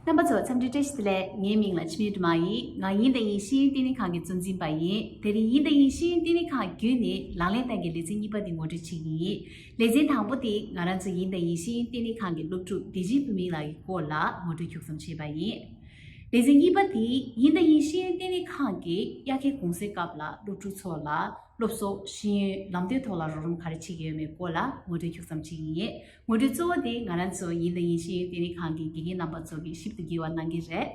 རྣམ་པ་ཚོ་འཚམས་འདྲི་བཀྲ་ཤིས་ལེ། ངའི་མིང་ལ་ཆི་མེད་དུ་མ་ཡིན། ང་དབྱིན་ཏེ་དབྱིན་ཤེས་ཡོན་བསྟི་གནས་ཁང་གི་གཙོ་འཛིན་པ་ཡིན། དེ་རིང་དབྱིན་ཏེ་དབྱིན་ཤེས་ཡོན་བསྟི་གནས་ཁང་བརྒྱུད་ནས་ལག་ལེན་སྟངས་ཀྱི་ལེ་ཚན་གཉིས་པ་འདི་ངོ་སྤྲོད་བྱེད་ཀྱི་ཡིན། ལེ་ཚན་དང་པོ་དེ་ང་རང་ཚོ་དབྱིན་ཏེ་དབྱིན་ཤེས་ཡོན་བསྟི་གནས་ཁང་གི་སློབ་ཕྲུག་བདེ་སྐྱིད་བུ་མིང་ལགས་ཀྱི་སྐོར་ལ་ངོ་སྤྲོད་མཁྱུག་ཙམ་བྱས་པ་ཡིན། ལེ་ཚན་གཉིས་པ་དེ་དབྱིན་ཏེ་དབྱིན་ཤེས་ཡོན་བསྟི་གནས་ཁང་གི་དབྱར་ཁའི་དགུང་སེར་སྐབས་ལ་སློབ་ཕྲུག་ཚོ་ལ། སློབ་གསོ། ཤེས་ཡོན། ལམ་སྟོན་ཐོག་ལ་རོགས་རམ་ག་རེ་བྱེད་ཀྱི་ཡོད་མེད་སྐོར་ལ་ངོ་སྤྲོད་ཁྱུག་ཙམ་བྱེད་ཀྱི་ཡིན། ངོ་སྤྲོད་གཙོ་བོ་དེ་ང་རང་ཚོ་ཡིན་དང་ཡིན་ཤེས་ཡོན་ལྟེ་གནས་ཁང་གི་དགེ་རྒན་རྣམ་པ་ཚོ་གི་ཞིབ་ཏུ་བགྱི་བ་གནང་གི་རེད།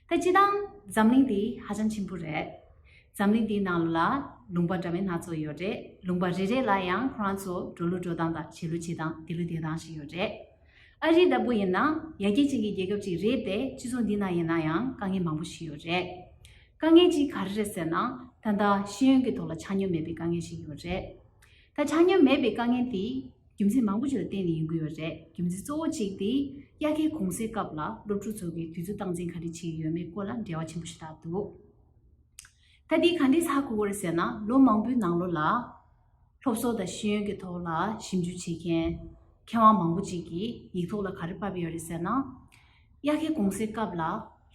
ད་སྤྱི་དང། འཛམ་གླིང་འདི་ཧ་ཅང་ཆེན་པོ་རེད། འཛམ་གླིང་འདིའི་ནང་ལོ་ལ། ལུང་པ་འདྲ་མིན་སྣ་ཚོགས་ཡོད་རེད། ལུང་པ་རེ་རེ་ལ་ཡང་ཁོ་རང་ཚོ་འགྲོ་ལུགས་འགྲོ་སྟངས་དང་བྱེད་ལུགས་བྱེད་སྟངས་དེ་ལུགས་དེ་སྟངས་ཤིག་ཡོད་རེད། ཨ་རི་ལྟ་བུ་ཡིན་ན་ཡར་རྒྱས་ཅན་གྱི་རྒྱལ་ཁབ་ཅིག་རེད་དེ་སྤྱི་ཚོགས་འདི་ན་ཡིན་ན་ཡང་དཀའ་ངལ་མང་པོ་ཞིག་ཡོད་རེད། དཀའ་ངལ་གཅིག་ག་རེ་རེད་ཟེར་ན་ད་ལྟ་ཤེས་ཡོན་གྱི་ཐོག་ལ་ཆ་སྙོམས་མེད་པའི་དཀའ་ངལ་ཞིག་ཡོད་རེད། ད་ཆ་སྙོམས་མེད་པའི་དཀའ་ངལ་དེ་རྒྱུ་མཚན་མང་པོ་ཞིག་ལ་བརྟེན་ནས་ཡིན་དགོས་ཡོད་རེད་རྒྱུ་མཚན་གཙོ་བོ་གཅིག་དེ་དབྱར་ཁའི་གུང་སེང་སྐབས་ལ་སློབ་ཕྲུག་ཚོ་གིས་དུས་ཚོད་སྟངས་འཛིན་ག་རེ་བྱེད་ཀྱི་ཡོད་མེད་སྐོར་ལ་འབྲེལ་བ་ཆེན་པོ་ཞིག་བཏགས་འདུག་ད་དེ་ག་འདྲའི་ཚ་གོ་གོ་རེད་ཟེར་ན་ལོ་མང་པོའི་ནང་ལོ་ལ། སློབ་གསོ་དང་ཤེས་ཡོན་གྱི་ཐོག་ལ་ཞིབ་འཇུག་བྱེད་མཁན་མཁས་དབང་མང་པོ་ཅིག་གིས་ཡིག་ཐོག་ལ་ག་རེ་བབས་ཡོད་རེད་ཟེར་ན། དབྱར་ཁའི་དགོང་ཟས་སྐབས་ལ་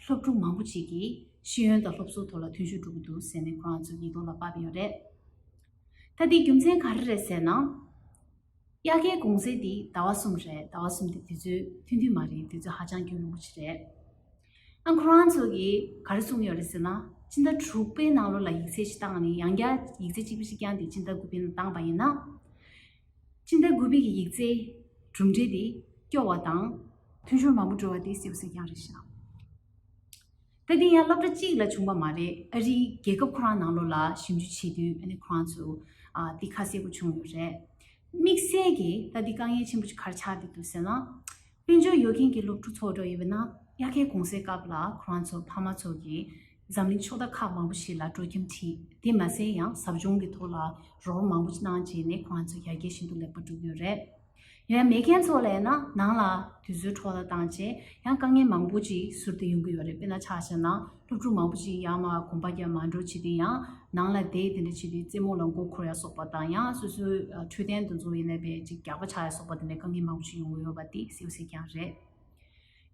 སློབ་ཕྲུག་མང་པོ་ཅིག་གིས་ཤེས་ཡོན་དང་སློབ་གསོའི་ཐོག་ལ་མཐུན་ཤོས་འགྲོ་གི་འདུག་ཟེར་ནས་ཁོ་རང་ཚོས་ཡིག་ཐོག་ལ་བབས་ཡོད་རེད། ད་འདིའི་རྒྱུ་མཚན་ག་རེ་རེད་ཟེར་ན། དབྱར་ཁའི་དགོང་ཟས་འདི་ཟླ་བ་གསུམ་རེད་ཟླ་བ་གསུམ་འདི་དུས་ཚོད་ཐུང་ཐུང་མ་རེད་དུས་ཚོད་ཧ་ཅང་སྐྱོན་རིན་པོ་ཆེ་རེད། ཨང་ཁོ་རང་ཚོ་གིས་ག་རེ་གསུངས་ཡོད་རེད་ཟེར་ན། སྤྱི་ཟླ་དྲུག་པའི་ནང་ལོ་ལ་ཡིག་ཚད་ཞིག་བཏང་ནས་ཡང་བསྐྱར་ཡིག་ཚད་གཅིག་པུ་ཞིག་བསྐྱངས་ཏེ་སྤྱི་ཟླ་དགུ་པའི་ནང་བཏང་པ་ཡིན་ན། སྤྱི་ཟླ་དགུ་པའི་གི་ཡིག་ཚད་གྲུབ་འབྲས་དེ་སྐྱོ་བ་དང། འཐུས་ཤོར་མང་པོ་འགྲོ་བ་དེ་སྲིད་པ་ཟེར་རྒྱང་རེད་ཤག་ད་དེ་ཡང་སློབ་གྲྭ་གཅིག་ལ་བྱུང་བ་མ་རེད་ཨ་རིའི་རྒྱལ་ཁབ་ཁོ་རང་ནང་ལོ་ལ་ཞིབ་འཇུག་བྱེད་དུས་ཨ་ནི་ཁོ་རང་ཚོ་དེ་ཁ་གསལ་པོ་བྱུང་ཡོད་རེད་དམིགས་བསལ་གྱིས་ད་དེ་དཀའ་ངལ་ཆེན་པོ་ཞིག་གར་ཆགས་འདི་འདུག་ཟེར་ན། དཔལ་འབྱོར་ཡོད་མཁན་གྱི་སློབ་ཕྲུག་ཚོགས་འགྲོ་ཡི་ཡོད་ན་དབྱར་ཁའི་གུང་སེང་སྐབས་ལ་ཁོ་རང་ཚོ་ཕ་མ་ཚོ་གིས་འཛམ་གླིང་ཕྱོགས་མཐའ་ཁག་མང་པོ་ཞིག་ལ་འགྲོ་ཁྱིམ་ཁྲིད་དེ་མ་ཟད་ཡང་ཟབ་སྦྱོང་གི་ཐོག་ལ་རོགས་རམ་མང་པོ་གནང་རྗེས་ནས་ཁོ་རང་ཚོ་ཡར་རྒྱས་ཤིན་ཏུ་ལེགས་པོ་འགྲོ་གི་ཡོད་རེད། ཡང་མེད་མཁན་ཚོ་ལ་ཡིན་ན་ནང་ལ་དུས་ཚོད་འཕྲོག་ལ་བཏང་རྗེས་ཡང་དཀའ་ངལ་མང་པོ་ཅིག་ཟུར་དུ་ཡོང་གི་ཡོད་རེད་དཔེར་ན་ཆ་བཞག་ན། སློབ་ཕྲུག་མང་པོ་ཞིག་ཡང་མ་གོམས་པ་རྒྱབ་མ་འགྲོ་བྱས་ཏེ་ཡང་ནང་ལ་བསྡད་དེ་འདྲ་བྱས་ཏེ་རྩེད་མོ་ལ་མགོ་འཁོར་ཡ་སོགས་པ་དང་ཡང་སོ་སོའི་འཕྲོད་བསྟེན་དུ་འཛུལ་ཡས་ནས་བས་ཅིག་རྒྱག་པ་ཆགས་ཡ་སོགས་པ་དེ་འདྲའི་དཀའ་ངལ་མང་པོ་ཞིག་ཡོང་གི་ཡོད་པ་དེ་གསལ་བོ་ཟིག་ཀྱང་རེད།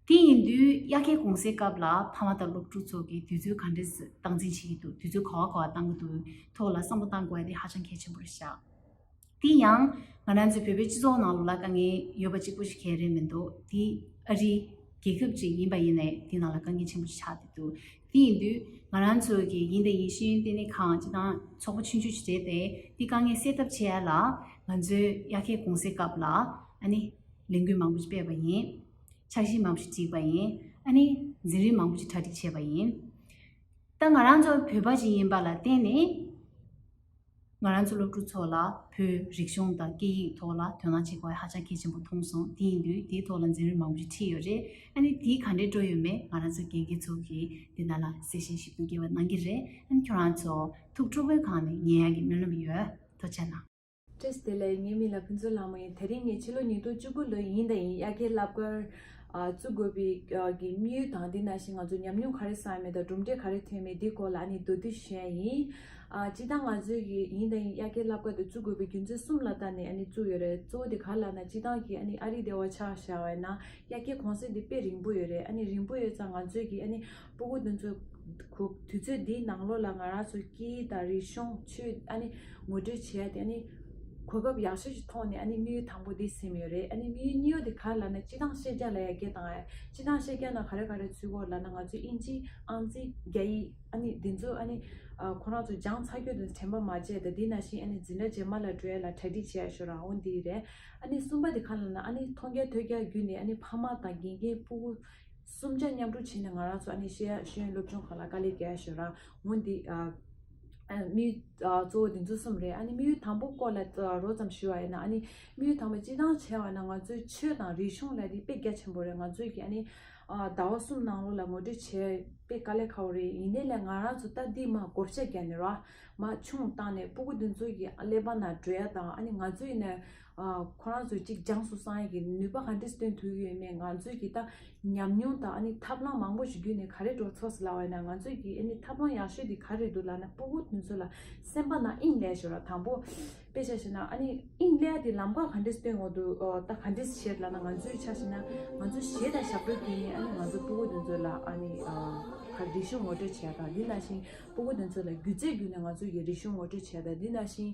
དེ་ཡིན་དུས་དབྱར་ཁའི་གུང་སའི་སྐབས་ལ་ཕ་མ་དང་སློབ་ཕྲུག་ཚོ་གིས་དུས་ཚོད་ག་འདྲས་སྟངས་འཛིན་བྱེད་ཀྱི་འདུག་དུས་ཚོད་ག་བ་ག་བ་གཏང་གི་འདུག་ཐོག་ལ་བསམ་བློ་གཏང་དགོས་པ་དེ་ཧ་ཅང་གལ་ཆེན་པོ་རེད་ཤག། དེ་ཡང་ང་རང་ཚོའི་བོད་པའི་སྤྱི་ཚོགས་ནང་ལོག་ལ་དཀའ་ངལ་ཡོད་པ་གཅིག་པོ་ཞིག་གལ་རེད་མི་འདུག་དེ་ཨ་རི་རྒྱལ་ཁབ་ཅིག་ཡིན་པ་ཡིན་ནའི་དེ་ནང་ལ་དཀའ་ངལ་ཆེན་པོ་ཞིག་ཆགས་བསྡད་འདུག་དེ་ཡིན་དུས་ང་རང་ཚོ་གིས་ཡིན་དང་ཡིན་ཤེས་ཡོན་ལྟེ་གནས་ཁང་སྤྱི་དང་ཚོགས་པ་ཆུང་ཆུང་ཞིག་བྱས་ཏེ་དེ་དཀའ་ངལ་སེལ་ཐབས་བྱེད་ཡ་ལ་ང་ཚོའི་དབྱར་ཁའི་གུང་སེང་སྐབས་ལ་ཨ་ནི་ལས་འགུལ་མང་པོ་ཞིག་སྤེལ་བ་ཡིན། འཆར་གཞི་མང་པོ་ཞིག་བསྒྲིགས་པ་ཡིན། ཨ་ནི་འཛིན་རིམ་མང་པོ་ཞིག་གྲ་སྒྲིག་བྱས་པ་ཡིན། ད་ང་རང་ཚོ་བོད་པ་ཞིག་ཡིན་པ་ལ་བརྟེན་ནས། ང་རང་ཚོ་སློབ་ཕྲུག་ཚོ་ལ་བོད་རིག་གཞུང་དང་སྐད་ཡིག་ཐོག་ལ་དོན་དངང་བྱེད་དགོས་ཧ་ཅང་གལ་ཆེན་པོ་མཐོང་སོང་དེ་ཡིན་དུས་དེའི་ཐོག་ལ་འཛིན་རིམ་མང་པོ་ཞིག་ཁྲིད་ཡོད་རེད་ཨ་ནི་དེའི་ག་འདྲའི་སྤྲོ་ཡོད་མེད་ང་རང་ཚོ་དགེ་རྒན་ཚོ་གིས་དེ་ན་ལ་གསལ་བཤད་ཞིབ་ཏུ་རྒྱས་པ་གནང་གི་རེད་ཨ་ནི་ཁྱོད་རང་ཚོ་ཐུགས་ཁྲོ་བོའི་གང་ནས་ཉན་ཡག་གི་སྨོན་ལམ་ཡོད་དོ་ཆ་ན། བཀྲིས་བདེ་ལེགས་ངའི་མིང་ལ་ཕུན་ཚོགས་ལགས་མོ་ཡིན་ད་རིང་ངས་ཕྱི་ལོ་ཉིས་སྟོང་བཅུ་དགུ་ལོའི་ཉིན་ཟླ་ཡིན་དབྱར་ཁའི་རླབས་སྐར། བཙུགས་དགོས་པའི་དམིགས་ཡུལ་དང་དེ་ནང་བཞིན་ང་ཚོ་ཉམས་མྱོང་ག་རེ་བསགས་ཡོད་མེད་དང་གྲུབ་འབྲས་ག་རེ་ཐོན་མེད་དེའི་སྐོར་ལ་ནི་མདོ་བསྡུས་བྱས་ཡིན། སྤྱི་བཏང་ང་ཚོས་ཀྱི་ཡིན་དང་ཡ་གྱལ་བསླབ་སྐབས་དེ་བཙུགས་དགོས་པའི་རྒྱུ་མཚན་གསུམ་ལ་ལྟ་ནས་ནི་བཙུགས་ཡོད་རེད་གཙོ་བོ་དེ་ག་ལ་ལགས་ན་སྤྱི་བཏང་གི་ནི་ཨ་རིའི་སྡེ་བ་ཆགས་བཞག་བས་ན་ཡ་གྱལ་གོང་གསལ་དེ་དཔེ་རིང་པོ་ཡོད་རེད་ཨ་ནི་རིང་པོ་ཡོད་ཙང་ང་ཚོས་ཀྱི་ནི། སྤུ་གུ་འདི་ཚོ་གུག་དུས་ཚོད་འདིའི་ནང་ལོགས་ལ་ང་རང་ཚོ་སྐྱིད་ཡུལ་དང་རི་གཤོང་ཆུ་ཨ་ནི་ངོ་སྤྲོད་བྱས་ཏེ་ཨ་ནི། གོ་སྐབས་ཡག་ཤོས་ཤིག་མཐོང་ནས་ཨ་ནི་དམིགས་ཡུལ་དང་པོ་འདི་སེམས་ཡོད་རེད་ཨ་ནི་དམིགས་ཡུལ་གཉིས་ཡོད་དེ་ག་ལ་ལ་ན་སྤྱི་དང་ཤེས་རྒྱ་ལ་ཡ་གྱལ་དང་ཨ་སྤྱི་དང་ཤེས་རྒྱ་ན་ག་རེ་ག་རེ་ཚུད་གོ་ལ་ན་ང་ཚོའི་དབྱིན་ཇི་ཨང་རྩིས་རྒྱ་ཡིག་ཨ་ནི་འདི་ཚོ་ཨ་ནི། ཁོ་རང་ཚོ་སྦྱངས་ཚར་ཁྱོད་ཚོ་དྲན་པ་མ་བརྗེད་དེ་འདི་ན་ཤིང་ཨ་ནི་འཛིན་གྲྭ་རྗེས་མ་ལ་བྲོས་ལ་གྲ་སྒྲིག་བྱས་ཡག་ཤོས་རང་དབང་འདི་རེད་ཨ་ནི་གསུམ་པ་འདི་ག་ལ་ན་ཨ་ནི་མཐོང་རྒྱ་ཐོས་རྒྱ་བརྒྱུད་ནས་ཨ་ནི་ཕ་མ་དང་དགེ་རྒན་སྤུ་གུ། གསུམ་ཆ་མཉམ་དྲུག་བྱས་ནས་ང་རང་ཚོ་ཨ་ནེ་ཤེས་ཡ་གཞོན་ནུ་སློབ་ཆུང་ཁག་ལ་དཀའ་ལས་བརྒྱ་ཞུ་རང་ངོ་འདི། དམིགས་ཡུལ་གཙོ་བོ་འདི་ཚོ་གསུམ་རེད་ཨ་ནེ་དམིགས་ཡུལ་དང་པོ་སྐོར་ལ་རོབ་ཙམ་ཞུ་བ་ཡིན་ན་ཨ་ནེ་དམིགས་ཡུལ་དང་པོ་སྤྱི་དང་བྱས་བ་ན་ང་ཚོའི་ཆོས་དང་རིག་གཞུང་ལ་དེ་དཔེ་རྒྱ་ཆེན་པོ་རེད་ང་ཚོས་ཀྱི་ཨ་ནེ། ཟླ་བ་གསུམ་ནང་ལོ་ལ་ངོ་སྤྲོད་བྱས་དཔེ་དཀའ་ལས་ཁ་བོ་རེད་ཡིན་ནའི་ལས་ང་རང་ཚོ་ལྟ་འདི་མ་གོ་བྱ་རྒྱ་ནི་ར་མ་ཆུང་བཏང་ནས་སྤུ་གུ་འདི་ཚོ་ཡི་གླེགས་བམ་ན་བྲོས་ཡ་དང་ཨ་ནེ་ང་ཚོས་ཡིན་ན། ཁོ་རང་ཚོའི་ཅིག་ཅང་སུ་སང་ཡིག་གི་ནུས་པ་ག་འདྲས་སྟོན་ཐུབ་ཡོད་མེད་ང་ཚོས་ཀྱིས་ད་ཉམས་མྱོང་དང་ཨ་ནི་ཐབས་ལམ་མང་པོ་ཞིག་བརྒྱུད་ནས་ག་རེ་འགྲོ་ཚོགས་ཟེར་ལ་བས་ན་ང་ཚོས་ཀྱིས་ཨེ་ནི་ཐབས་ལམ་ཡག་ཤོས་དེ་ག་རེ་འདུག་ལ་ན་སྤོ་བོ་དེ་ཚོ་ལ་སེམས་པ་ན་དབྱིངས་ལས་ཞོར་ལ་དང་པོ་དཔེ་བྱ་ཞེ་ན་ཨ་ནི་དབྱིངས་ལས་དེ་ལམ་ཁ་ག་འདྲས་སྟོན་འོག་ཏུ་ད་ག་འདྲས་བྱེད་ལ་ན་ང་ཚོས་ཆ་ཞེ་ན་ང་ཚོ་ཞེ་དང་ཞབས་བྲོ་བརྒྱུད་ནས་ཨ་ནི་ང་ཚོ་སྤོ་བོ་དེ་ཚོ་ལ་ཨ་ནི་ག་རེ་རིག་གཞུང་ངོ་སྤྲོད་བྱས་དང་དེ་ན་བཞིན་སྤོ་བོ་དེ་ཚོ་ལ་སྒྱུ་རྩལ་བརྒྱུད་ནས་ང་ཚོ་ཡི་རིག་གཞུང་ངོ་སྤྲོད་བྱས་དང་དེ་ན་བཞིན།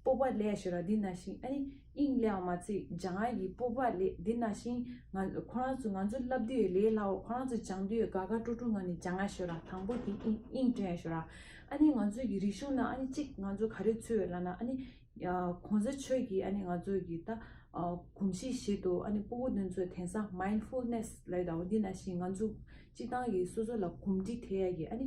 སྤོབས་པ་ལས་ཞེས་ར་འདི་ན་ཤིང་ཨ་ནི་དབྱིངས་ལས་འོག་མ་ཚིག་སྦྱང་ཨ་ཡིས་སྤོབས་པ་ལས་འདི་ན་ཤིང་ང་ཁོ་རང་ཚོ་ང་ཚོ་བསླབ་དུས་ལས་སླ་བོ་ཁོ་རང་ཚོ་སྦྱང་དུས་དགའ་དགའ་སྤྲོ་སྤྲོ་ངང་ནས་སྦྱང་ཨ་ཞེས་ར་དང་པོ་དེ་དབྱིངས་དྲན་ཨ་ཞེས་ར་ཨ་ནི་ང་ཚོ་ཡི་རིག་གཞུང་ན་ཨ་ནི་གཅིག་ང་ཚོ་ག་རེ་ཚུལ་བས་ལ་ན་ཨ་ནི་གོང་ས་ཆོས་ཀྱིས་ཨ་ནི་ང་ཚོ་ཡི་ད་གོམས་གཤིས་ཤིག་ཏུ་ཨ་ནི་སྤོ་བོ་དོན་ཚོ་དན་ས Mindfulness ལ་ཡི་ད་འོ་འདི་ན་ཤིང་ང་ཚོ་གཅིག་ཏང་གིས་སོ་སོ་ལ་གོམས་འདྲིས་ཐེ་ཡ་གིས་ཨ་ནི།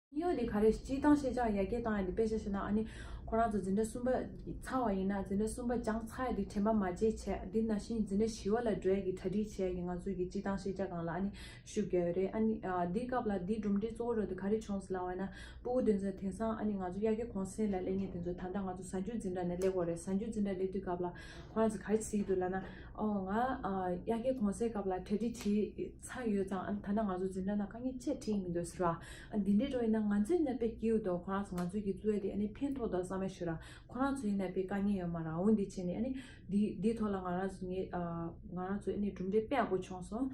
གཡོ་འདི་ག་རེ་སྤྱི་བཏང་ཤེས་བྱ་ཡ་གྱལ་བཏང་ཡ་འདི་དཔེ་ཆ་ཤེས་ན་ཨ་ནི་ཁོ་རང་ཚོ་འཛིན་གྲྭ་གསུམ་པ་ཚར་བ་ཡིན་ན་འཛིན་གྲྭ་གསུམ་པ་སྦྱང་ཚར་ཡ་འདི་དྲན་པ་མ་བརྗེད་བྱས་འདི་ན་བཞིན་འཛིན་གྲྭ་བཞི་བ་ལ་འགྲོའི་གི་གྲ་སྒྲིག་བྱས་ཡ་གི་ང་ཚོའི་གི་སྤྱི་བཏང་ཤེས་བྱ་གང་ལ་ཨ་ནི་ཤུགས་རྒྱག་ཡོད་རེད་ཨ་ནི་འདི་སྐབས་ལ་འདི་གྲུབ་འབྲས་གཙོ་བོ་རོ་འདི་ག་རེ་བྱུང་ཟེར་ལ་བ་ན་སྤུ་བོ་དེ་ཚོ་དེང་སང་ཨ་ནི་ང་ཚོ་ཡ་གྱལ་གོང་སེང་ལ་སླེབས་ཉེ་དེ་ཚོ་ད་ལྟ་ང་ཚོ་གཟའ་འཇུག་འཛིན་གྲྭ་ནས་སླེབས་འོ་རེད་གཟའ་འཇུག་འཛིན་གྲྭ་སླེབས་དུས་སྐབས་ལ་ཁོ་རང་ཚོ་ག་རེ་བྱེད་ཀྱི་འདུག་ལ་ན་ཨོ་ང་ཡ་གྱལ་གོང་སེང་སྐབས་ལ་གྲ་སྒྲིག་བྱེད་ཚང་ཡོད་ཙང་ཨ་ཐ་ན་ང་ཚོ་འཛིན་གྲྭ་ནང་དཀའ་ངལ་ཆེར་འཕྲད་མི་འདུག་ཟེར་བ། འདི་འདྲའི་སྒྲོ་ཡིན་ན་ང་ཚོའི་ནད་པའི་སྐྱིའུ་དང་ཁོ་རང་ཚོ་ང་ཚོའི་གི་གཙོས་ཏེ་ཨ་ནི་ཕན་ཐོགས་དང་བསམ་བློ་ཞུ་ར། ཁོ་རང་ཚོའི་ནད་པའི་དཀའ་ངལ་ཡོད་མ་རང་འུ་འདི་བྱས་ནས་ཨ་ནི། འདི་འདི་ཐོག་ལ་ང་རང་ཚོ་ངས་ང་རང་ཚོས་ཨ་ནི་གྲུབ་འབྲས་དཔེ་ཡག་པོ་བྱུང་སོང།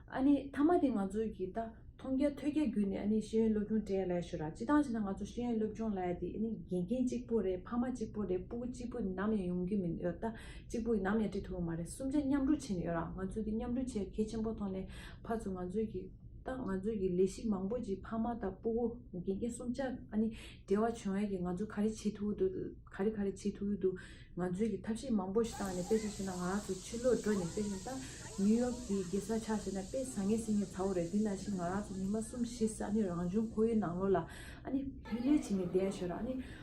ཨ་ནི་མཐའ་མ་དེ་ང་ཚོའི་གི་ད་མཐོང་རྒྱ་ཐོས་རྒྱ་བརྒྱུད་ནས་ཨ་ནི་ཤེས་ཡོན་སློབ་སྦྱོང་དྲན་ལས་ཞུ་ར་སྤྱི་སྟངས་བྱས་ན་ང་ཚོ་ཤེས་ཡོན་སློབ་སྦྱོང་ལས་དེ་ཨ་ནི་དགེ་རྒན་གཅིག་པུ་རེད་ཕ་མ་གཅིག་པུ་རེད་སྤུ་གུ་གཅིག་པུ་ནམ་ཡང་ཡོང་གི་མི་ཡོད་ད། གཅིག་པུ་ཡིན་ནམ་ཡང་བྲིས་ཐུབ་པ་མ་རེད་གསུམ་ཆ་མཉམ་སྒྲུབ་བྱེད་ནས་ཡོད་རང་ང་ཚོས་དེ་མཉམ་སྒྲུབ་བྱེད་ཡ་གལ་ཆེན་པོ་མཐོང་ནས་ཕར་ཚུར་ང་ཚོས་ཀྱི་ཏང་ང་ཚོས་ཀྱི་ལས་གཞི་མང་པོ་ཅིག་ཕ་མ་དང་སྤུ་བོ་དགེ་རྒན་གསུམ་ཆ་ཨ་ནི་འབྲེལ་བ་བྱུང་ཡ་གི་ང་ཚོས་ག་རེ་བྱེད་ཐུབ་འདུག་ག་རེ་ག་རེ་བྱེད་ཐུབ་ཡོད་འདུག་ང་ཚོས་ཀྱི་ཐབས་ཤེས་མང་པོ་ཞིག་བཏང་ནས་དཔེ་ཆ་བྱས་ན་ང་རང་ཚོ་ཕྱི་ལོག་འགྲོ་ནས་དཔེ་ཆ་ལྟ་ནིའུ་ཡོག་གི་དགེ་རྩ་ཆགས་བྱས་ན་དཔེ་བཟང་ངན་སྲིད་ངན་ཚ་བོ་རེད་དེ་ནང་བཞིན་ང་རང་ཚོ་ཉི་མ་གསུམ་བཞི་ས་ནི་རང་བྱུང་ཁོར་ཡུག་ནང་ལོག་ལ་ཨ་ནི་ལྷུད་ལྷུད་བྱས་ནས་བསྡད་ཡ་ཞོར་ཨ་ནི།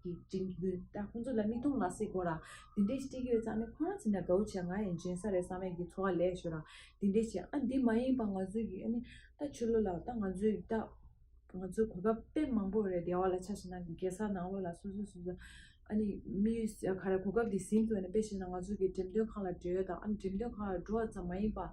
ཀྱི་དྲིན་གྱི་གུས་ད་ཁོང་ཚོ་ལ་མིག་མཐོང་ལག་ཟིན་དགོས་ར་དེ་འདྲས་ཅིག་ཡོད་ཙང་ནི་ཁོ་རང་ཚེ་ན་དགའ་བོ་བྱས་ང་ཡང་སྦྱིན་ས་རེད་བསམ་མེད་ཀྱི་འཚོ་བ་ལས་ཞོ་ར་དེ་འདྲས་བྱས་ཨ་འདི་མ་ཡིན་པ་ང་ཚོའི་ཡུལ་ནི་ད་ཆོས་ལོ་ལ་ད་ང་ཚོའི་ད་ང་ཚོའི་གོ་སྐབས་དཔེ་མང་པོ་རེད་སྡེ་བ་ལ་ཆ་ཤས་ན་གེ་སར་ནང་ལོ་ལ་སོ་སོའི་སོ་སོའི་ཨ་ནི་མི་ཡུལ་ག་རེ་གོ་སྐབས་དེ་ཟིན་དགོས་ནས་དཔེ་ཤེས་ན་ང་ཚོ་གི་འགྲེམས་སྟོན་ཁང་ལ་འབྲེལ་ཡོད་དང་ཨ་འགྲེམས་སྟོན་ཁང་ལ་འགྲོ་བ་ཙམ་མ་ཡིན་པ།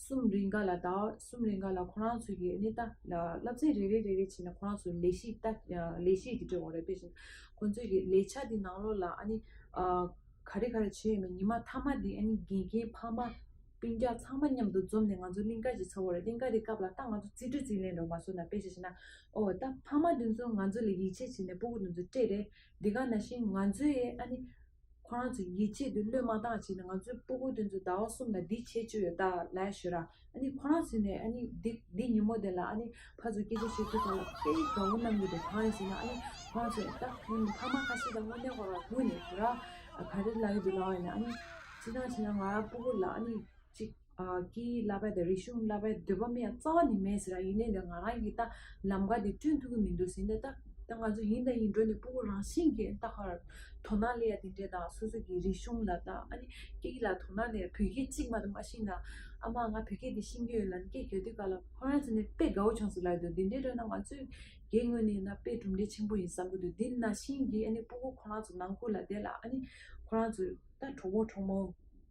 གསུམ་རེ་འགའ་ལ་དང་གསུམ་རེ་འགའ་ལ་ཁོ་རང་ཚོའི་གནས་སྟངས་བསླབ་ཚན་རེ་རེ་རེ་རེ་བྱས་ནས་ཁོ་རང་ཚོའི་ལས་གཞིའི་ལས་གཞི་དེ་འབྲེལ་བ་རེ་སྤེལ་བཞིན་ཁོ་ཚོའི་གི་ལས་འཆར་དེ་ནང་ལོགས་ལ་ཨ་ནི་ག་རེ་ག་རེ་བྱས་ཡོད་མེད་ཉི་མ་མཐའ་མ་དེ་ཨ་ནི་དགེ་རྒན་ཕ་མ་སྤུན་རྒྱག་ཚང་མ་མཉམ་དུ་འཛོམས་ནས་ང་ཚོ་གླིང་ཀ་ཞིག་ཚར་བ་རེད་གླིང་ཀ་དེ་སྐབས་ལ་ཏང་ང་ཚོ་རྩིས་སྤྲོད་རྩིས་ལེན་རོགས་མ་བཟོ་ན་དཔེ་ཞིག་བྱས་ན་ཨོ་ད་ཕ་མ་དེ་ཚོ་ང་ཚོ་ལ་ཡིད་ཆེས་བྱས་ནས་སྤོ་སྒུར་དེ་ཚོ་སྤྲད་རེད་འདི་ག་ན་བཞིན་ང་ཚོའི་ཨ་ནི་ཁོ་རང་ཚོས་ཡིད་ཆེས་དེ་བློས་མ་བཏང་ཕྱིན་ང་ཚོའི་སྤུ་གུ་དེ་ཚོ་ཟླ་བ་གསུམ་ལ་འདི་བྱེད་ཆོད་ཡོད་ད་ལ་ཞུ་ར། ཨ་ནི་ཁོ་རང་ཚོས་ནས་ཨ་ནི་འདི་འདི་ཉིན་མོ་དེ་ལ་ཨ་ནི་ཕ་ཚོ་སྐད་ཆ་བཤད་ཚུལ་དང་དཔེ་ཡིག་གང་བོ་གནང་གི་འདུག་གང་ཡིན་ཟེར་ན་ཨ་ནི་ཁོ་རང་ཚོས་ད་ཐེངས་ཕ་མ་ཁ་ཤས་དང་དངོས་གནས་ཁོ་རང་ངུས་ནས་ཞུ་ར། ག་རེ་ལ་ཡོད་འདུག་ལ་ཡིན་ན་ཨ་ནི་ཅི་ལྟར་བྱས་ན་ང་རང་སྤུ་གུ་ལ་ཨ་ནི་ཅིག། ཀྱི་བསླབ་པའི་དང་རིག་གཞུང་བསླབ་པའི་འདོད་པ་མི་ཡང་རྩ་བ་ནས་མེད་ཟེར་ར་ཡིན་ནའི་ང་རང་གིས་ད་ལམ་ཀ་དེ་བསྐྲུན་ཐུབ་ཀྱི་མི་འདུག་ཟེར་ནའི་ད་ད་ང་ཚོ་ཡིན་དང་ཡིན་འགྲོ་ནས་སྤུ་བོ་རང་བཞིན་གྱིས་ད་ཧར་དོ་སྣང་ལས་ཡ་དེ་འདྲས་དང་སོ་སོ་ཀྱི་རིག་གཞུང་ལ་ད་ཨ་ནི་སྐད་ཡིག་ལ་དོ་སྣང་ལས་ཡ་བོད་སྐད་གཅིག་མ་དང་མ་ཤེས་ན་ཨ་མ་ང་བོད་སྐད་དེ་ཤེས་ཀྱི་ཡོད་ལ་ནི་སྐད་རྒྱག་དུས་ག་ལ་ཁོ་རང་ཟེར་ནའི་དཔེ་དགའ་བོ་བྱུང་ཟེར་ལབ་འདུག་དེ་འདྲས་འདྲ་ན་ང་ཚོས་རྒྱའི་ངོས་ནས་ན་དཔེ་གྲུབ་འབྲས་ཆེན་པོ་ཡིན་བསམ་གྱི་འདུག་འདི་ན་བཞིན་གྱིས་ཨ་ནི་སྤུ་བོ་ཁོ་རང་ཚོ་ནང་ཁུལ་ལ་བསྡད་ལ་ཨ་ནི་ཁོ་རང་ཚོས་ད་གྲོགས་པོ་གྲོགས་མོ།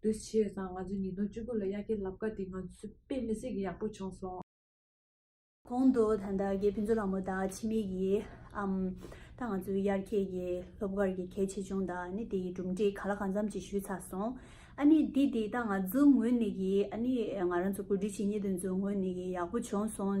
དུས་ཕྱིས་ཡོད་ཙང་ང་ཚོས་ཉིས་སྟོང་བཅུ་དགུ་ལ་དབྱར་ཁའི་རླབས་ཀ་དེ་ང་ཚོས་དཔེ་མི་སྲིད་ཀྱི་ཡག་པོ་བྱུང་སོང། གོང་དུ་ད་ལྟ་རྒྱའི་ཕུན་ཚོགས་རང་མོ་དང་ཕྱི་མིག་གི་ཨམ་ཐང་ང་ཚོའི་དབྱར་ཁའི་ཡི་སློབ་གར་གྱི་གལ་ཆེ་ཆུང་དང་ནི་དེ་ཡི་གྲུབ་འབྲས་ག་ལ་གང་འཚམ་ཅིག་ཞུས་ཚར་སོང། ཨ་ནི་འདི་དེ་ད་ང་ཚོའི་ངོས་ནས་ཀྱི་ཨ་ནི་ང་རང་ཚོ་གོ་སྒྲིག་བྱེད་ཉེས་དོན་ཚོའི་ངོས་ནས་ཀྱི་ཡག་པོ་བྱུང་སོང།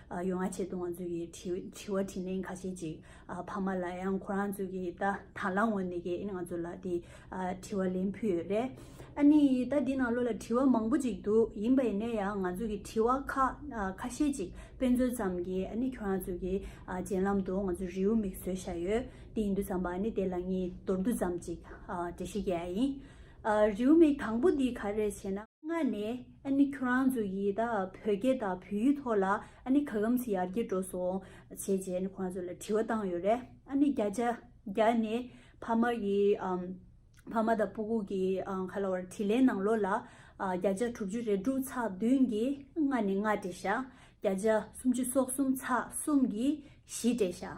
ཡོ་ང་ཆེ་བཏུང་བ་ཚོས་ཀྱི་དྲི་བ་དྲིས་ནས་ཁ་ཤས་ཅིག་ཕ་མ་ལ་ཡང་ཁོ་རང་ཚོས་ཀྱི་ད་ད་ལ་ངོ་ནས་ཀྱི་ང་ཚོ་ལ་དེ་དྲི་བ་ལེན་ཕུལ་ཡོད་རེད། ཨ་ནི་ད་འདི་ནང་ལོ་ལ་དྲི་བ་མང་པོ་ཅིག་འདུག་ཡིན་པ་ཡིན་ནས་ཡང་ང་ཚོས་ཀྱི་དྲི་བ་ཁ་ཁ་ཤས་ཅིག་དཔེ་མཚོན་ཙམ་གྱི་ཨ་ནི་ཁྱོད་རང་ཚོས་ཀྱི་རྗེན་ལམ་དུ་ང་ཚོས་རེའུ་མིག་བཟོས་བཞག་ཡོད་དེ་ཡིན་དུས་ཙམ་པ་ནི་དེ་ལ་ངས་མདོར་བསྡུས་ཙམ་ཅིག་འབྲི་ཤེས་ཀྱི་ཡ་ཡིན། རེའུ་མིག་དང་པོ་འདི་ག་རེད་ཞེ་ན། ལྔ་ནས་ཨ་ནི་ཁྱོད་རང་ཚོ་ཡིས་ད་བོད་སྐད་དང་བོད་ཡིག་ཐོག་ལ་ཨ་ནི་ག་གམ་ཟི་ཡར་རྒྱས་འགྲོ་སོང་བྱས་རྗེས་ཨ་ནི་ཁོ་རང་ཚོ་ལ་དྲི་བ་བཏང་ཡོད་རེད་ཨ་ནི་བརྒྱ་ཆ་བརྒྱ་ནས་ཕ་མ་ཡི་ཕ་མ་དང་པུ་གུ་གི་ག་ལ་བར་དྲི་ལན་ནང་ལོག་ལ་བརྒྱ་ཆ་དྲུག་ཅུ་རེ་དྲུག་ཚགས་བདུན་གྱི་ལྔ་ནས་ལྔ་བྲེ་ཤ་བརྒྱ་ཆ་སུམ་ཅུ་སོག་གསུམ་ཚགས་གསུམ་གྱི་བཞི་བྲེ་ཤ།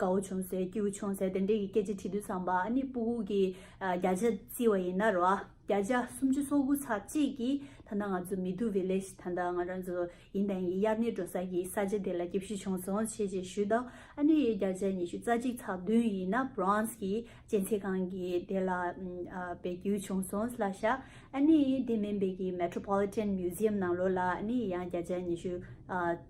གའུ་ཆུང་ཟེར་ཀེའུ་ཆུང་ཟེར་དེ་འདྲས་ཀྱི་སྐད་ཆ་དྲི་དུས་བསམ་པ་ཨ་ནི་སྤུ་གུག་གི་རྒྱ་ཆ་བརྩི་བ་ཡིན་ན་རོ་ཨ་རྒྱ་ཆ་སུམ་ཅུ་སོ་དགུ་ཚ་གཅིག་གི་ད་ལྟ་ང་ཚོ་མི་དུ Village ད་ལྟ་ང་རང་ཚོ་ཡིན་དང་ཡིན་དབྱར་གནས་འགྲོ་ས་ཀྱི་ས་ཆ་དེ་ལ་སྐྱེ་བཞི་བྱུང་སོང་བྱས་བྱས་ཞུས་དང་ཨ་ནི་རྒྱ་ཆ་ཉི་ཤུ་རྩ་གཅིག་ཚ་བདུན་ཡིན་ན Bronze གི་སྤྱན་ཚེ་ཁང་གི་དེ་ལ་བེད་སྐྱིལ་བྱུང་སོང་སླ་ཤ་ཨ་ནི་དེ་མིན་བེ་གི Metropolitan Museum ནང་ལོ་ལ་ཨ་ནི་ཡང་རྒྱ་ཆ་ཉི་ཤུ་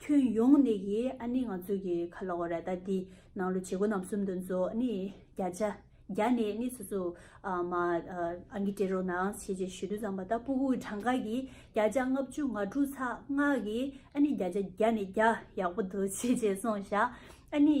ཁྱོད་ཡོང་ནི་ཡི་ཨ་ནི་ང་ཚོ་གི་ཁ་ལོ་ར་ད་དི་ནང་ལོ་བྱེད་གོ་རྣམ་གསུམ་དུ་མཛོ་ཨ་ནི་རྒྱ་ཆ་རྒྱ་ནི་ནི་སུ་སུ་མ་ཨ་ངི་ཏྲེ་རོ་ནང་བྱེད་ཅེས་ཞུ་དུ་ཙམ་པ་ད་པུ་གུ་གི་གྲངས་ཀ་གི་རྒྱ་ཆ་ལྔ་བཅུ་ང་དྲུག་ཚ་ལྔ་གི་ཨ་ནི་རྒྱ་ཆ་རྒྱ་ནི་རྒྱ་ཡག་པོ་འདུག་བྱེད་ཅེས་སོང་བཞག་ཨ་ནི་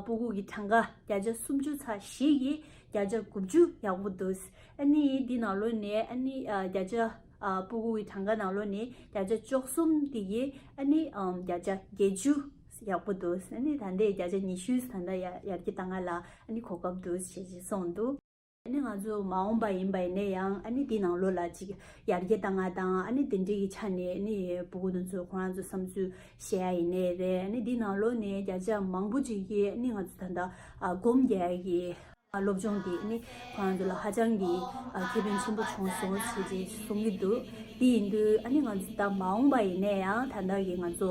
པུ་གུ་གི་གྲངས་ཀ་རྒྱ་ཆ་སུམ་ཅུ་ཚ་བཞི་གི་རྒྱ་ཆ་དགུ་བཅུ་ཡག་པོ་འདུག་ཨ་ནི་དི་ནང་ལོ་ནས་ཨ་ནི་རྒྱ་ཆ། སྤུ་གུ་ཡི་གྲངས་ཀ་ནང་ལོ་ནི་བརྒྱ་ཆ་བཅུ་གསུམ་དེ་ཡིས་ཨ་ནི་བརྒྱ་ཆ་བརྒྱད་ཅུ་ཡག་པོ་འདུག་ཨ་ནི་ད་ལྟའི་བརྒྱ་ཆ་ཉི་ཤུས་ད་ལྟ་ཡར་གྱི་ད་སྔ་ལ་ཨ་ནི་གོ་སྐབས་འདུག་ཞེས་ཞེས་གསུངས་འདུག། ཨ་ནི་ང་ཚོ་མ་འོངས་པ་ཡིན་པ་ཡིན་ན་ཡང་ཨ་ནི་དེའི་ནང་ལོ་ལ་ཅིག་ཡར་གྱི་ད་སྔ་དང་ཨ་ནི་དེ་འདྲའི་གི་ཆ་ནས་ཨ་ནི་སྤུ་གུ་དང་ཚོས་ཁོ་རང་ཚོའི་བསམ་ཚུལ་བཤད་ཡ་ཡིན་ནའི་རེད་ཨ་ནི་དེའི་ནང་ལོ་ནས་བརྒྱ་ཆ་མང་པོ་ཅིག་གིས་ཨ་ནི་ང་ཚོ་ད་ལྟ་སྒོམ་རྒྱག་གི། སློབ་སྦྱོང་དེ་ནི་ཁོ་རང་ཚོ་ལ་ཧ་ཅང་གི་ཁེ་ཕན་ཆེན་པོ་བྱུང་སོང་ཞེས་བཅས་གསུང་གི་འདུག་དེ་ཡིན་དུས་ཨ་ནི་ང་ཚོ་ད་མ་འོངས་པ་ཡིན་ནས་ཡང་ད་ལྟར་གྱི་ང་ཚོ་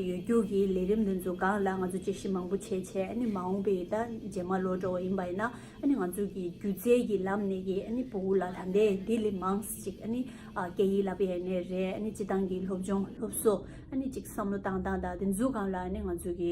ཡོད་རྒྱུགས་ཀྱི་ལས་རིམ་འདི་ཚོ་སྒང་ལ་ང་ཚོ་དཔྱད་ཞིབ་མང་པོ་བྱས་བྱས་ཨ་ནི་མ་འོངས་པའི་ད་རྗེས་མ་ལོ་འགྲོ་བ་ཡིན་པ་ཡིན་ན་ཨ་ནི་ང་ཚོ་གི་སྒྱུ་རྩལ་གྱི་ལམ་ནས་ཀྱི་ཨ་ནི་བུ་ལ་ད་ལྟའི་དེ་ལས་མང་ཞིག་ཨ་ནི་སྐད་ཡིག་ལ་ཕན་ནི་རེད་ཨ་ནི་སྤྱི་བཏང་གི་སློབ་སྦྱོང་སློབ་གསོ་ཨ་ནི་ཅིག་བསམ་བློ་བཏང་བཏང་ད་དེ་ཚོ་སྒང་ལ་ཨ་ནི་ང་ཚོ་གི་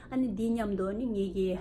ཨ་ནི་འདི་སྙམ་དུ་ནི་ངེད་ཀྱི།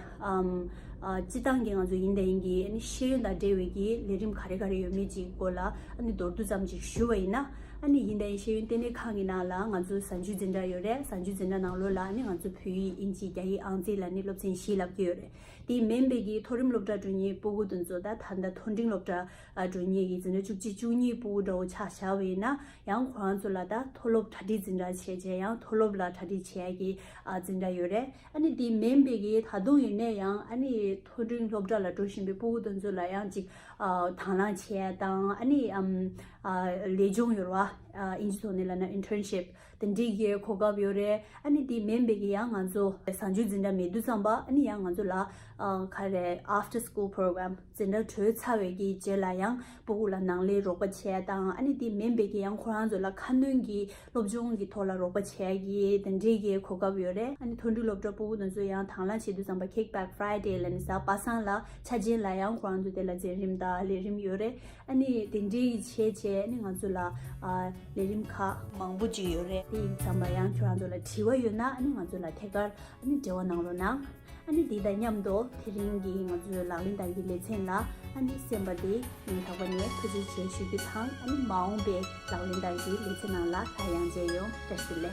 སྤྱི་བཏང་གི་ང་ཚོ་ཡིན་ད་ཡིན་གྱི་ཨ་ནི་ཤེས་ཡོན་དང་འབྲེལ་བའི་ཀྱི་ལས་རིམ་ག་རེ་ག་རེ་ཡོད་མེད་ཀྱི་སྐོར་ལ་ཨ་ནི་མདོར་བསྡུ་ཙམ་ཅིག་ཞུ་བ་ཡིན་ན། ཨ་ནི་ཡིན་ད་ཡིན་ཤེས་ཡོན་ལྟེ་གནས་ཁང་གི་ནང་ལ་ང་ཚོ་ཟ་འཇུ་འཛིན་གྲྭ་ཡོད་རེད་ཟ་འཇུ་འཛིན་གྲྭ་ནང་ལོ་ལ་ནི་ང་ཚོ་བོད་ཡིག་དབྱིན་ཇི་རྒྱ་ཡིག་ཨང་རྩིས་ལ་ནི་སློབ་ཚན་བཞི་ལབ་ཀྱི་ཡོད་རེད་དེ་ཡིན་མིན་དཔེ་ཀྱི་མཐོ་རིམ་སློབ་གྲྭ་དྲུག་གཉིས་པུ་གུ་དོན་གཙོ་ད་ད་མཐོ་འབྲིང་སློབ་གྲྭ་དྲུག་གཉིས་ཀྱི་འཛིན་གྲྭ་བཅུ་གཅིག་བཅུ་གཉིས་པུ་གུ་འདྲ་བོ་ཆགས་བཞག་བས་ཡིན་ན་ཡང་ཁོ་རང་ཚོ་ལ་ད་མཐོ་སློབ་གྲ་སྒྲིག་འཛིན་གྲྭ་བྱས་རྗེས་ཡང་མཐོ་སློབ་ལ་གྲ་སྒྲིག་བྱས་ཀྱི་ཨ་ཙི་འདྲ་ཡོད་རེད། ཨ་ནི་དེ་མིན་པའི་གི་ད་དུང་ཡིན་ནའི་ཡང་ཨ་ནི་མཐོ་འབྲིང་སློབ་གྲྭ་ལ་འགྲོ་བཞིན་པའི་སྤུ་བོ་དེ་ཚོ་ལ་ཡང་ཅིག་དང་བླང་བྱས་ཡ་དང་ཨ་ནི་ལས་སྦྱོང་ཡོར་བ་ཨིན་ཇི་ཐོག་ནས་ལ་ན Internship དེ་འདྲི་གི་གོ་སྐབས་ཡོད་རེད་ཨ་ནི་དེ་མིན་པའི་གི་ཡང་ང་ཚོ་བཟང་སྤྱོད་འཛིན་གྲྭ་མེད་དུས་ཙམ་པ་ཨ་ནི་ཡང་ང་ཚོ་ལ་ཁ་རེ After School Program། འཛིན་གྲྭ་གྲོལ་ཚར་བའི་གི་རྗེས་ལ་ཡང་པོ་ཀུ་ལ་ནང་ལའི་རོགས་པ་བྱས་དང་ཨ་ནི་དེ་མིན་པའི་གི་ཡང་ཁོ་རང་ཚོ་ལ་ཁ་སྣོན་གི་སློབ་སྦྱོང་གི་ཐོག་ལ་རོགས་པ་བྱས་གི་དེ་འདྲའི་གི་གོ་སྐབས་ཡོད་རེད་ཨ་ནི་མཐོ་འབྲིང་སློབ་གྲྭ་པོ་ཀུ་དང་ཚོ་ཡང་དང་བླངས་བྱེད་དུ་བརྩམས་པ Kick Back Friday ལ་ནི་ཟ་པ་སངས་ལ་ཆ་རྗེན་ལ་ཡང་ཁོ་རང་ཚོ་དེ་ལ་འཛིན་རིམ་དང་ལས་རིམ་ཡོད་རེད་ཨ་ནི་དེ་འདྲའི་གི་བྱས་རྗེས་ཨ་ནི་ང་ཚོ་ལ་ལས་རིམ་ཁག་མང་པོ་ཅིག་ཡོད་རེད་དེ་ཡིན་བརྩམས་པ་ཡང་ཁྱོད་རང་ཚོ་ལ་དྲི་བ་ཡོད་ན་ཨ་ནི་ང་ཚོ་ལ་ཐད་ཀར་ཨ་ནི་འབྲེལ་བ་གནང་རོགས་གནང། ཨ་ནི་འདི་དང་མཉམ་དུ་དེ་རིང་གི་ང་ཚོའི་ལག་ལེན་དང་གི་ལེ་ཚན་ལ་ཨ་ནི་སེམས་པ་དེ་ངས་ལྷག་པ་ནས་ཐུགས་རྗེ་ཆེ་ཞུ་རྒྱུ་དང་ཨ་ནི་མ་འོངས་པའི་ལག་ལེན་དང་གི་ལེ་ཚན་ནང་ལ་ལྷ་གཡང་མཇལ་ཡོང་བཀྲ་ཤིས་ལེ།